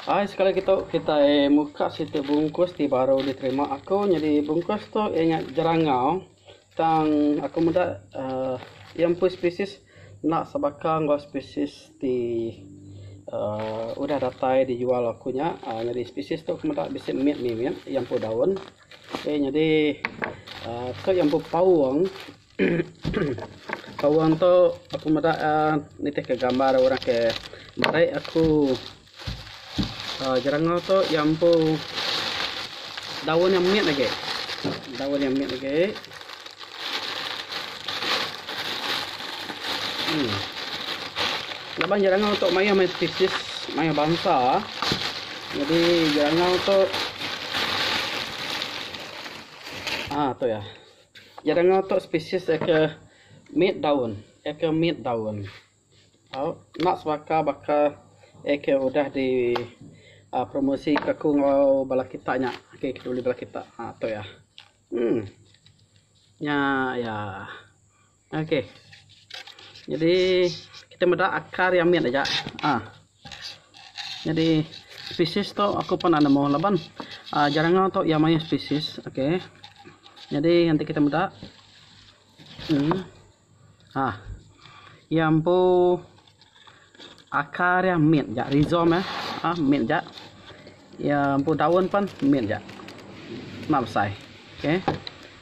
Hai sekali lagi tu kitai muka siti bungkus ti baru diterima aku nyadi bungkus tu iya nya jerangau tang aku meda uhh iya empu spesies enda sebaka enggau spesies ti uhh udah datai dijual aku nya uhh nyadi spesies tu aku meda bisi mit mimit iya empu daun. Okey nyadi uhh tu iya empu paung. Awang tu aku meda nitih ka gambar orang ke meri aku uhh jerangau tu iya empu daun iya mit agi daun iya mit agi uhh laban jerangau tu mayuh mih species mayuh bansa jadi jerangau tu uhh tu iya. Iya danga tu spesies aka mit daun, aka mit daun. Au, enda sebaka baka aka udah di aaa promosika aku enggau bala kita nya, aka ke dibeli bala kita. Ha tu iya. Emm. Nya iya. Okey. Jadi kita meda akar yang mit aja. Ha. Jadi spesies tu aku pun nak nemu laban uh, jarangau tu yang mayuh spesies. Okey. Jadi nanti kita meda. Hmm. Ha. Yang empu Akar iya mit ja rhizom iya ha mit ja iya empu daun pen mit ja mak besai okay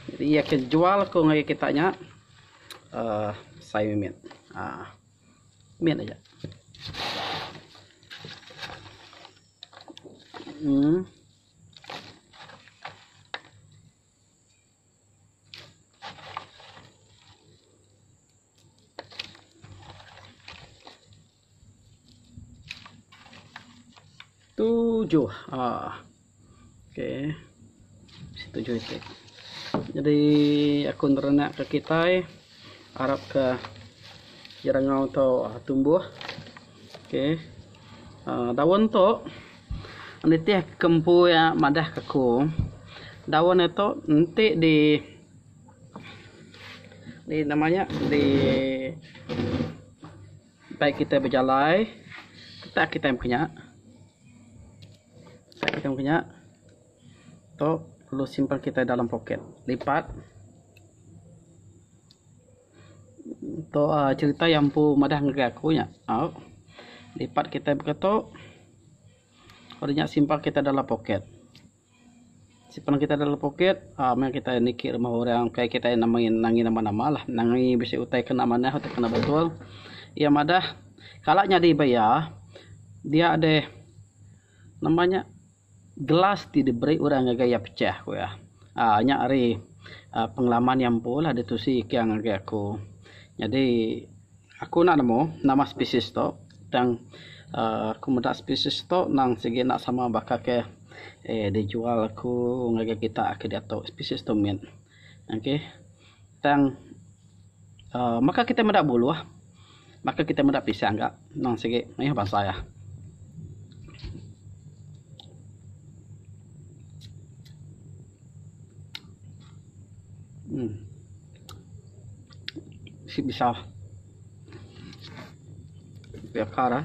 jadi iya ke jual ku ngagai kita nya uhh besai mih mit ha mit aja uhh. tujuh ah okey tujuh itu jadi aku nak ke kitai Arapka jerangau tu tumbuh. Okey. Uh, daun tu nitih kempu iya madah keku. Daun nya tu enti di di nama nya di bai kita bejalai tak kitai mengkanya. Tak kitai mengkanya. Tu perlu simpan kitai dalam poket lipat. Tu uhh cherita yang empu madah ngagai aku nya au. Lipat kitai baka tu. Padu nya simpan kitai dalam poket. Simpan kitai dalam poket uhh meh kitai niki rumah orang kai kitai nangi nama nama lah. Nangi bisi utai kena manah utai kena betul. Iya madah kala nyadi baya dia deh nama nya. Gelas ti diberi orang ngagai iya pecah, ku iya. Aaa nya ari aaa pengalaman iya empulah ditu seigang ngagai aku. Nyadi aku enda nemu nama spesies tu tang aaa aku meda spesies tu nang sigi enda sama baka ke dijual aku ngagai kita ke diatu spesies tu mit. Okey. Tang uh, maka kita meda buluh. Maka kita meda pisang gak. Nang sigi mayuh bansa ya. Hmm. Si bisa. Biar kara.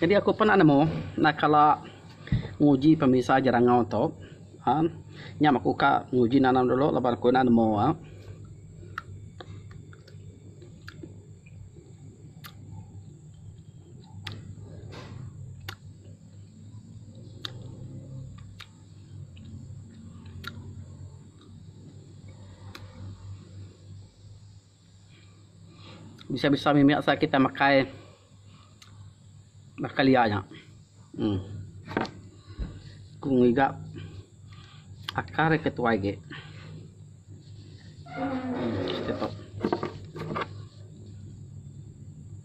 Jadi aku pernah nemu enda kala nguji pemisa jerangau tu uhh nyam aku ka nguji nanam dulu laban aku enda nemu uhh Bisa bisa mimit asal kita makai baka liar nya. Uhh. Ku ngiga akar ika tuai agi. Uhh. Siti tok.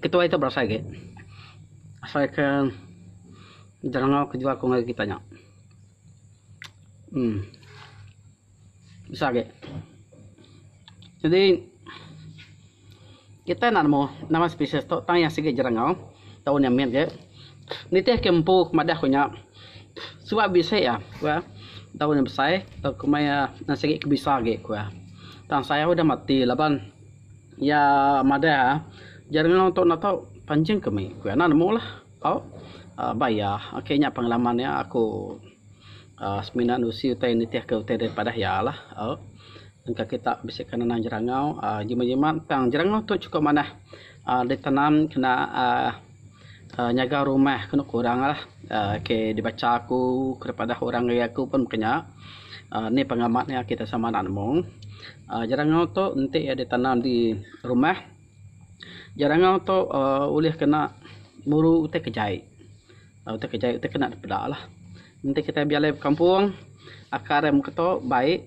Ketuai tu berasai agi. Asai ke jerangau ke jual ngagai kita nya. Uhh. Bisa agi. Jadi kita enda nemu nama spesies tu tang iya sigi jerangau taun nya mit agi. Nitihka empu madah ku nya. Suba bisi iya ku iya daun nya besai tau komai iya enda sigi ke bisa agi ku iya. Tang sayau udah mati laban iya madah iya jari enda tau enda tau panjin ke mih ku iya enda nemu lah tau uhh ba iya. Ok nya pengalaman iya aku uhh semina anu usi utai nitih ke utai da padah iya lah uhh. Engka kita bisi ke nanang jerangau uhh jimat jimat tang jerangau tu chukup manah uhh ditanam kena uhh. Nyaga rumah kenu kurang lah. Ok dibacha aku kerepadah orang ari aku pun mega nya. Ni pengamat nya kita sama anak nemu. Jerangau tu enti iya ditanam di rumah jerangau tu uhh ulih kena muru utai kejai. Utai kejai utai kena dipeda lah. Enti kitai bejalai bekampung, akar iya meketo baik,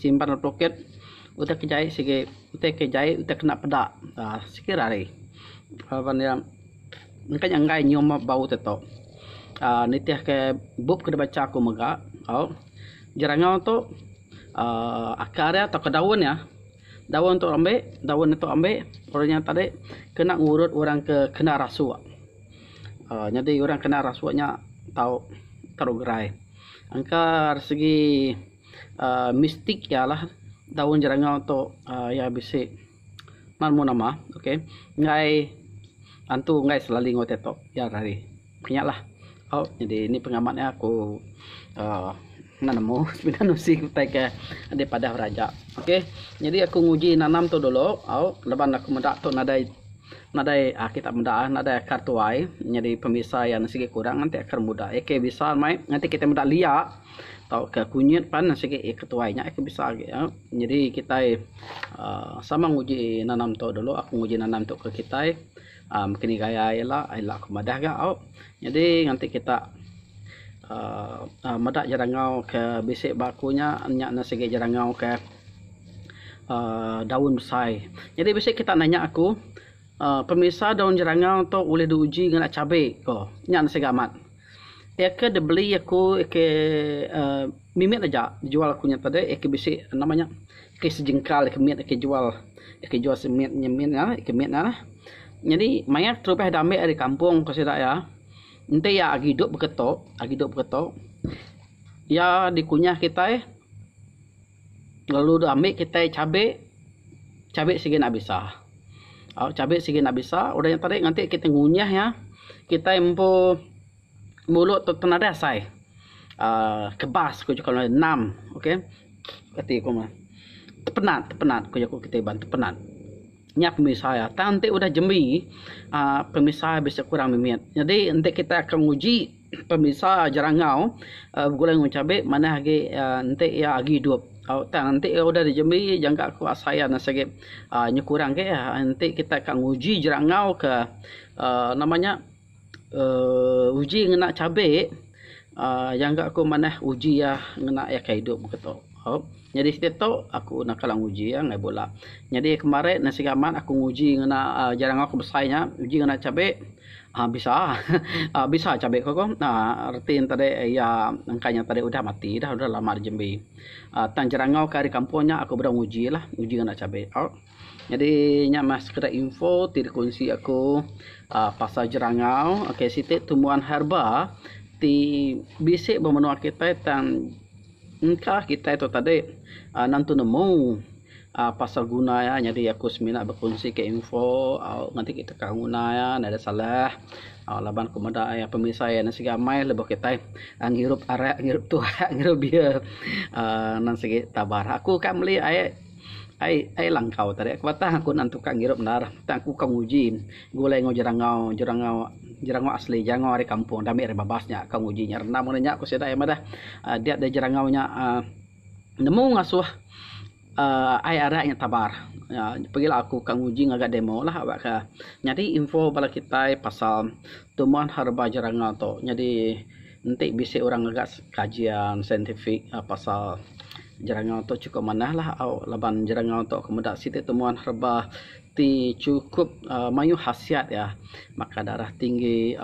simban lalu pelukit, utai ke jai sigi utai ke jai utai kena peda sigi rari. Laban iya engka nya enggai nyium bau te tok. aaa nitihke bup ke dibacha ku mega au jerangau tu aaa akar iya tauka daun iya. Daun tu ambi, daun itu ambi, orang nya tadi kena ngurut orang ke kena rasuk. Aaa nyadi orang kena rasuk nya tau terugerai. Engka ari segi aaa mistik iya lah daun jerangau tu aaa iya bisi memu nama, okey, enggai antu enggai selaling utai tu. Iya lah ari. Nya lah jadi nih pengamat nya aku uhh enda nemu semina nusi ke utai ke enda padah beraja ok jadi aku nguji nanam tu dulu au laban aku meda tu nadai nadai uhh kita meda nadai akar tuai nyadi pemisa iya sigi kurang nganti akar muda iya ke bisa meh nganti kita meda lia tauka kunyit pan sigi iya ke tuai nya iya ke bisa agi au nyadi kitai uhh sama nguji nanam tu dulu aku nguji nanam tu ke kitai. Um, maka ni gaya ila, ila ku madah ga au. Nyadi nganti kita um, meda jerangau ke bisi ba aku nya, nya ne sigi jerangau ke um, daun besai. Nyadi bisi kita nanya aku, um, pemisa daun jerangau tu ulih diuji ngena cabe ko. Nya ne siga amat. Iya ke dibeli aku iya ke uhh mimit aja dijual aku nya tadi iya ke bisi nama nya iya ke sejengkal iya ke mit aku jual iya ke jual semit nya mit nya iya ke mit nya lah. Nyadi mayar terubah ida ambek ari kampung ku sida iya enti iya agi duduk beketo agi duduk beketo iya dikunyah kitai. Lalu dok ambil kitai cabe, cabe sigi nak bisa. Au cabe sigi nak bisa udah nya tadi nganti kitai ngunyah iya kitai empu mulut tu tenada asai aaa kebas ku juku orang nam ok reti ku meh tepenat tepenat ku jaku kitai iban tepenat. Nya pemisa iya tang enti udah jembi aaa pemisa iya bisi kurang mimit. Jadi enti kitai akan nguji. Pemisa jerangau begulai enggau cabe manah agi enti iya agi idup tang enti iya udah dijembi jangka ku asai iya enda sigi nyekurang agi enti kita ka nguji jerangau ka um nama nya um uji ngena cabe um jangka ku manah uji iya ngena iya ka idup ke tu. Nyadi siti tu aku enda kala nguji iya ngagai bula. Nyadi kemari ne sigi amat aku nguji ngena jerangau ke besai nya uji ngena cabe. Bisa bisa cabe ko ko reti ne tadi iya engka nya tadi udah mati dah udah lama dah jembi tang jerangau ka ari kampung nya aku bedau nguji la nguji nganak cabe au nyadi nya meh sekeda info ti dikunsi aku pasal jerangau ok siti tumbuhan herba ti bisi ba menua kitai tang engka kitai tu tadi nentu nemu. Uh pasal guna iya nyadi aku semina bekunsi ka info uhh ngagai kita ka nguna iya enda ada salah uhh laban ku meda iya pemesai iya enda siga amai lebuh kitai uhh ngirup arak ngirup tuak ngirup beer uhh nan sigi tabar. Aku ka meli ai ai ai langkau tadi aku batang aku nang tu ka ngirup endar tang aku ka nguji gulai enggau jerangau jerangau jerangau asli jerangau ari kampung enda ami ari babas nya ka nguji nya rendam ngagai nya ku sida iya madah uhh dia da jerangau nya uhh. nemu ngasuh uhh ai arai nya tabar. uhh Pagi la aku ka nguji ngaga demo la ba ka nyadi info bala kitai pasal tuman herba jeranga tu. Nyadi enti bisi orang ngaga kajian scientific pasal jeranga tu chukup manah la au laban jeranga tu meda siti tuman herba. ti chukup mayuh hasiat iya baka darah tinggi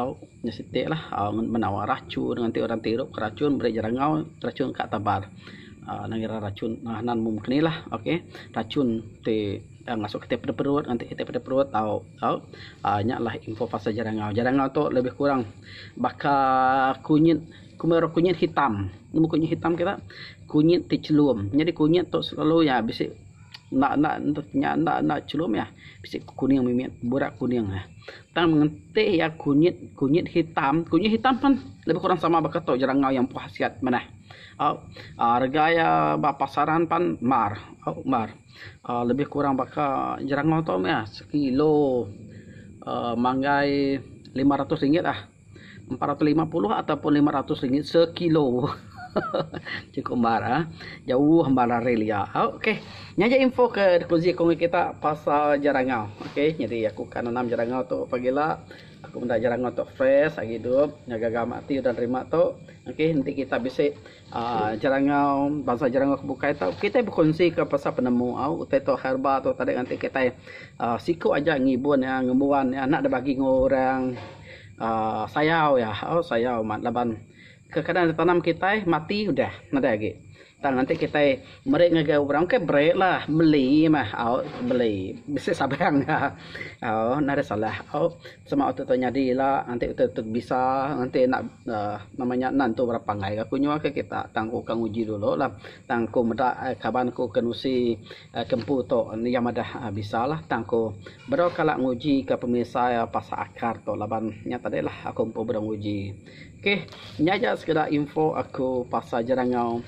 nya siti lah menawa rachun nganti orang ti irup rachun meri jerangau rachun ka tabar uhh ina ngaran rachun nan mung mung nih okay rachun ti masuk kitai peda perut nganti kitai peda perut tau tau uhh nya lah info pasal jerangau. Jerangau tu lebih kurang baka kunyit kumbin orang kunyit hitam nemu kunyit hitam kira kunyit ti chelum nyadi kunyit tu selalu iya bisi. Enda enda nya enda enda chelum iya bisi kuning mimit burak kuning iya. Tang mengeti iya kunyit kunyit hitam kunyit hitam pen lebih kurang sama baka tu jeran enggau iya empu hasiat manah. Au au rega iya ba pasaran pan mar au mar au lebih kurang baka jeran enggau tu meh iya sekilo au manggai lima ratus ringgit ah. empat ratus lima puluh ataupun lima ratus ringgit sekilo. Cukup bar ah. Jauh bar lari lia. Okey. Nya je info ke dikuzi aku dengan kita pasal jerangau. Okey, jadi aku akan nanam jerangau tu pagi la. Aku menda jerangau tu fresh agi hidup. Nya gaga mati udah nerima tu. Okey, enti kita bisi Jerangau, Bansa Jerangau ke bukai tu kitai bekunsika pasal penemu au utai tu herba tu tadi ngagai kitai siku aja ngibun iya, ngembuan iya enda dibagi enggau orang aaa sayau iya, au sayau mat laban kekadang ditanam kitai mati udah nadai agi. Tang enti kitai meri ngagai orang bukai berilah meli meh au beli bisi saban au nadai salah au. Sama utai tu nyadi ila nganti utai tu bisa nganti enda nama nya nan tu berapa anggai ga aku nyuaka kita tang aku ka nguji dulu lah tang aku meda kaban aku ke nusi ke empu tu iya madah bisa lah tang aku bedau kala nguji ka pemisa iya pasal akar tu laban nya tadi lah aku empu bedau nguji ok nya aja sekeda info aku pasal jerangau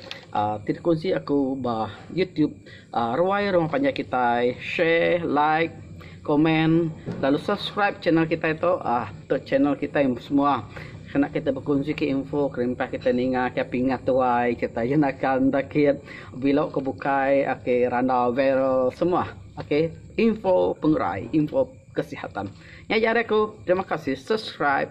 ti dikunsi aku ba YouTube. Ruai rumah panjai kitai, share, like, komen lalu subscribe channel kitai tu tu channel kitai semua kena kitai bekunsi ke info kelimpah kitai ninga ke pingat tuai kitai ke nakal enda kit belo ke bukai ke randau viral semua oke info pengerai info kesihatan nya ja ari aku terima kasih subscribe.